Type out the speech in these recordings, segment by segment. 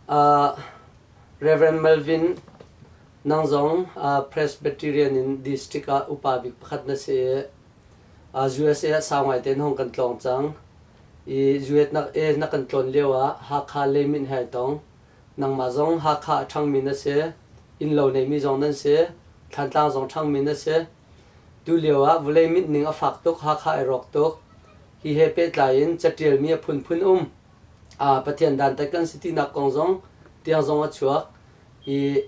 Rev. Malvin, nang zong Presbyterian in District ah upa bik pakhat na si i USA ah sau ngaite in hong kan tlawng cang. I US na, i na kan tlawn lio ah Hakha lei min he ai tong. Nangmah zong Hakha a ṭhangmi na si, innlo neimi zong nan si, Thlantlang zong ṭhangmi na si. Tulio ah vawlei mit ning a fak tuk, Hakha ai rawk tuk. Hi he pehtlai in catialmi a phunphun um. Pathian dantat kan si tinak kong zong tiang zong a chuak i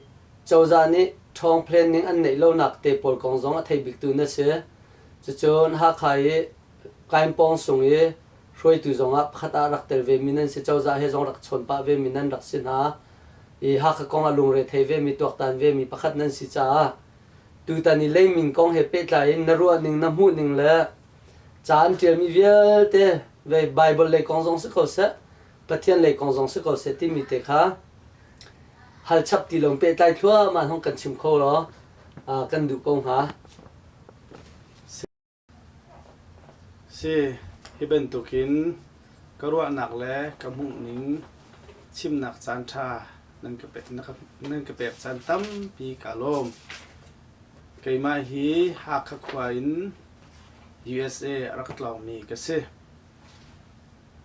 cozah nih ṭhawng planning an neih lonak te pawl kong zong a thei biktu na si. Cucun Hakha i Kainpawng sung i hruaitu zongah pakhat ah rak tel vemi nan si. Cozah he zong rak chawn pah vemi nan rak si hna. I Hakha kong ah lungre thei vemi, tuaktan vemi pakhat nan si caah tutan i leimin kong he pehtlai in na ruahning, na hmuhning le Ca an ṭialmi vialte Baibal lei kong zong si ko seh, Pathian lei kong zong si ko seh timi te kha hal chap ti lo pehtlai thluahmah hnong kan chim kho law kan duh ko hnga. Si, hi bantukin ka ruahnak le ka hmuhning chimnak caan ṭha nan ka pek, nan ka pek caan tampi ka lawm. Keimah hi Hakha khua in USA a rak tlaumi ka si.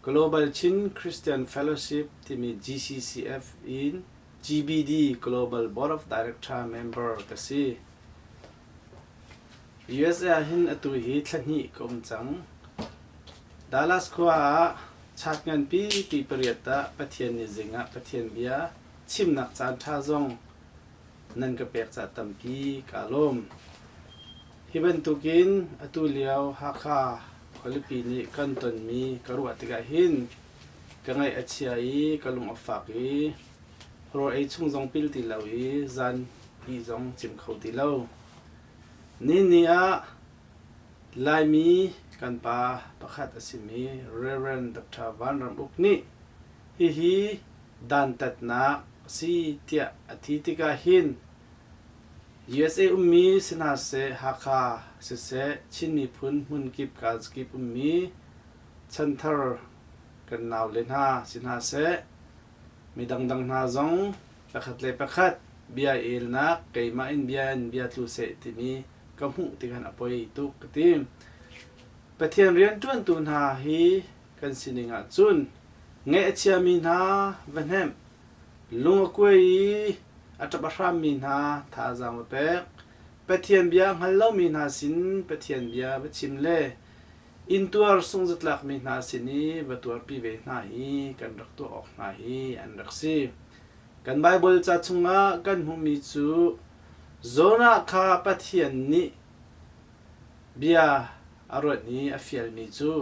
Global Chin Christian Fellowship timi GCCF in GBD Global Board of Director member ka si. USA ahhin atu hi thla hnih ka um cang. Dallas khua ah chart nganpi pi pariat ah Pathian nih zing ah Pathian bia chimnak caan ṭha zong nan ka pek ca tampi kaa lawm. Hi bantukin atu lio Hakha khualipi nih kan tonmi ka ruah tikah hin ka ngaih a chia i ka lung a fak i rawl ei chung zong pil ti lo i zan pi zong cim kho ti lo. Nini ah Laimi kan pa pakhat a simi Reverend Dr. Van Ram Uk nih hihi dantatnak a si tiah a ti tikah hin USA ummi si hna seh, Hakha siseh, Chin miphun hmunkip kalzakip ummi chanthar kan naule hna si hna seh, mi dangdang hna zong pakhat le pakhat bia i elnak keimah in bia in bia tlu seh timi ka hmuh tikhan a poi tuk ka ti. Pathian rianṭuantu hna hi kan sining ahcun ngeih a chiami hna va hnemh, Lungakue i a ṭap a hrammi hna thazaang va pek. Pathian bia a hngal lomi hna sin Pathian bia va chim le inntuar sungzatlakmi hna sin i va tuarpi ve hna hi kan rak tuah awk hna hi an rak si. Kan Baibal ca chungah kan hmuhmi cu Jonah kha Pathian nih bia a ruat i a fialmi cu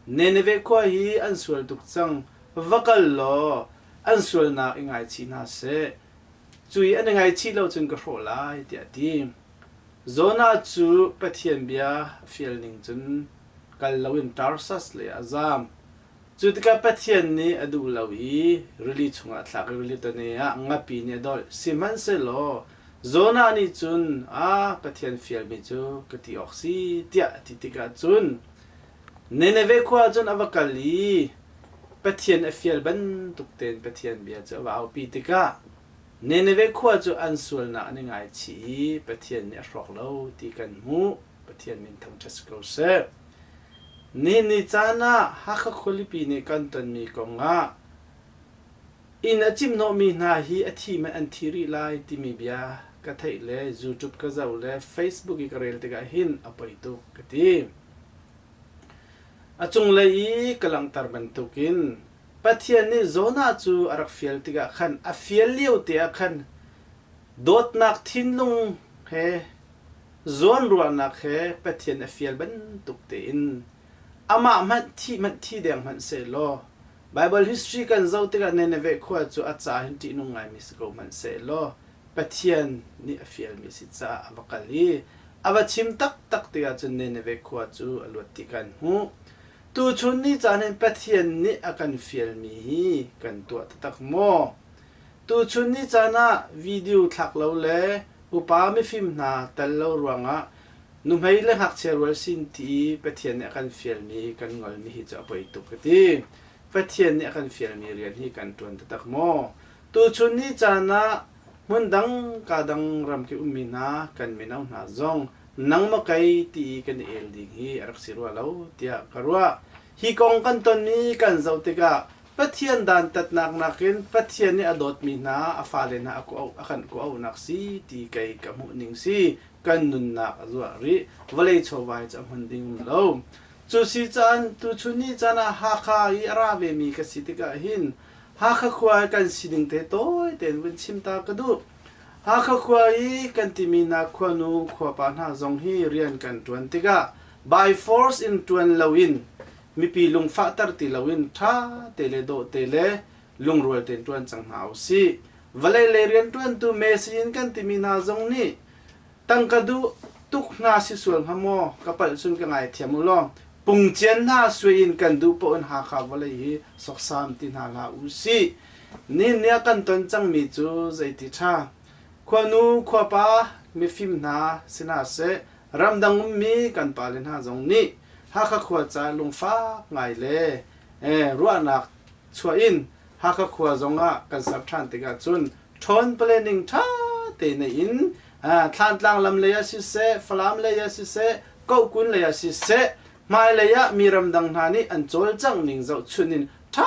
Nineveh khua hi an sual tuk cang, va kal law an sualnak i ngaichih hna seh. Cu i an i ngaichih lo cun ka hrawh lai, tiah a ti. Jonah cu Pathian bia a fial ning cun kal loin Tarsas leiah a zaam. Cu tikah Pathian nih a duh lo i rili chungah a thlak i rili tane ah ngapi nih a dolh, sihmanhsehlaw Jonah nih cun, A Pathian fialmi cu ka ti awk si, tiah a ti tikah cun Nineveh khua ah cun a va kal i Pathian a fial bantuk tein Pathian bia cu a va aupi tikah Nineveh khua cu an sualnak an i ngaichih i Pathian nih a hrawk lo ti kan hmuh. Pathian min thangṭhat si ko seh. Nihin ni caan ah Hakha khualipi nih kan tonmi kong ah Inn a cimhnawhmi hna hi a thim ah an thi rih lai timi bia ka theih le YouTube ka zoh le Facebook i ka rel tikah hin a poi tuk ka ti. A cunglei i ka langhter bantukin Pathian nih Jonah cu a rak fial tikah khan a fial lio te ah khan dawtnak thinlung he zawnruahnak he Pathian a fial bantuk tein amah hmanh thi hmanh thi deng hmanh sehlaw Baibal history kan zoh tikah Nineveh khua cu a ca hin ṭihnung ngaimi si ko hmanhsehlaw Pathian nih a fialmi a si caah a va kal i a va chim taktak tikah cun Nineveh khua cu a luat ti kan hmuh. Tuchun ni caan hin Pathian nih a kan fialmi hi kan tuah taktak maw? Tuchun ni caan ah video thlak lo le upa mifim hna tel lo ruangah nuhmei le ngakchia rual sin ti Pathian nih a kan fialmi kan ngolmi hi cu a poi tuk ka ti. Pathian nih a kan fialmi rian hi kan ṭuan taktak maw? Tuchun ni caan ah hmun dang kaa dang ram ka ummi hna kan mino hna zong nangmaw kei ti i kan i el ding hi a rak si rua lo tiah ka ruah. Hi kong kan tonmi kan zoh tikah Pathian dantatnak nakin Pathian nih a dawtmi hna a fale hna a kan kuahnak si ti kei ka hmuhning si kan nunnak a zuah rih. Vawlei chawhvai cu a hman ding um lo. Cu si caan, tuchun ni caan ah Hakha i a ra vemi ka si tikah hin Hakha khua i kan sining te tawi tein vun chim ta ka duh. Hakha khua i kan timi hna khuanu, khuapa hna zong hi rian kan ṭuan tikah by force in ṭuan loin mipi lungfahter ti loin ṭha te le dawh te le lungrual tein ṭuan cang hna u sih. Vawlei lei rianṭuantu Messi in kan timi hna zong nih tangka duh tuk hna si sual hnga maw? Ka palh cun ka ngaithiam u law pungcian hna sui in kan duh paoh in Hakha vawlei hi soksam ti hna hlah u sih. Nihin i a kan ton cangmi cu zeiti ṭha! Khuanu, khuapa, mifim hna si hna seh, ramdang ummi kan pale hna zong nih Hakha khua ca lungfak ngai le ruahnak chuah in Hakha khua zong ah kan ser ṭhan tikah cun ṭhawn planning ṭha te nei in Thlantlang lam lei ah siseh, Falam lei ah siseh, Kohkun lei ah siseh, hmailei ah mi ramdang hna nih an cawlcangh ning zohchunh in ṭha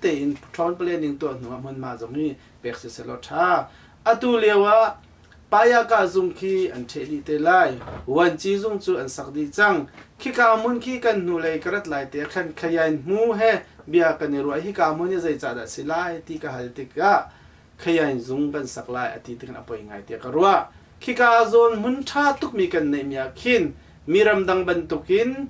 tein ṭhawn planning tuah hnu ah hmunhma zong hi pek siseh law ṭha. Atu lio ah Payaka zung khi an ṭheh dih te lai. Vuanci zung cu an sak dih cang. Khika hmun khi kan hnulei ka rat lai te ah khan Khayain hmu he bia kan i ruah. Hika hmun hi zeicah dah a si lai ti ka hal tikah Khayain zung kan sak lai a ti tikhan a poi ngai tiah ka ruah. Khika zawn hmun ṭha tukmi kan neihmi ah khin mi ramdang bantukin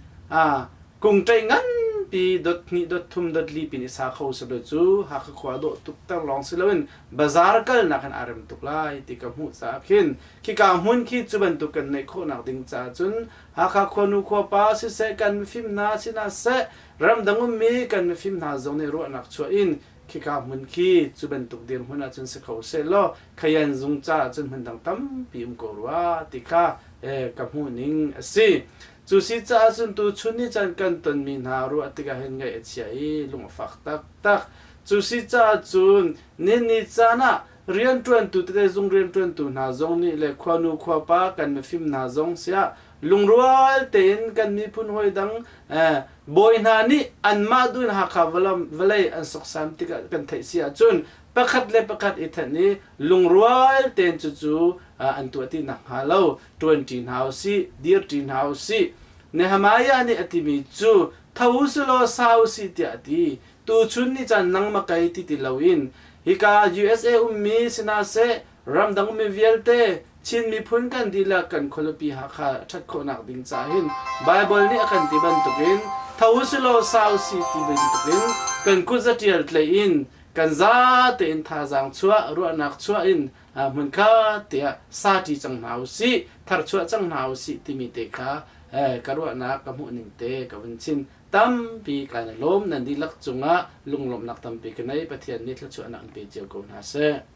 kungṭei nganpi dot hnih dot thum dot li pin i sa kho sehlaw cu Hakha khua dawh tuk ter lawng si loin bazar kalnak in aa rem tuk lai ti ka hmuh caah khin khika hmun khi cu bantuk kan neih khawhnak ding caah cun Hakha khuanu khuapa siseh kan mifim hna si hna seh ramdang ummi kan mifim hna zong nih ruahnak chuah in khika hmun khi cu bantuk dirhmun ah cun si kho sehlaw khayan zung caah cun hmun dang tampi um ko rua ti kha eh, ka hmuhning a si cu si caah cun tu chun ni chan kan tonmi hna ruah tikah hin ngaih a chia i lung a fak taktak cu si caah cun nin ni caan ah rianṭuantu tete zung rianṭuantu hna zong nih le khuanu khuapa kan mifim hna zong siah lungrual tein kan miphun hawi dang bawi hna nih anmah dun Hakha vawlei an soksan tik ah kan theih si ahcun pakhat le pakhat i thenh i lungrual tein cucu an tuah ti nak hnga lo ṭuanṭi hna usih dirṭi hna usih Nehemiah nih a timi cu tho u si law sa u si tiah a ti tuchun ni caan nang makai ti ti lo in hika usa ummi si hna seh ramdang mi vialte Chin miphun kan dihlak kan khualupi Hakha ṭhat khawhnak ding ca hin Baibal nih a kan ti bantukin tho u si law sa u si ti bantukin kan kut zatial tlaih in kan za tein thazaang chuah ruahnak chuah in hmunkhat tiah sati cang hna u sih tharchuah cang hna u sih timi te kha ka ruahnak ka hmuhning te ka vun chin tampi kan lawm nan dihlak cungah lunglawmhnak tampi ka nei Pathian nih thluachuahnak an pe cio ko hna seh.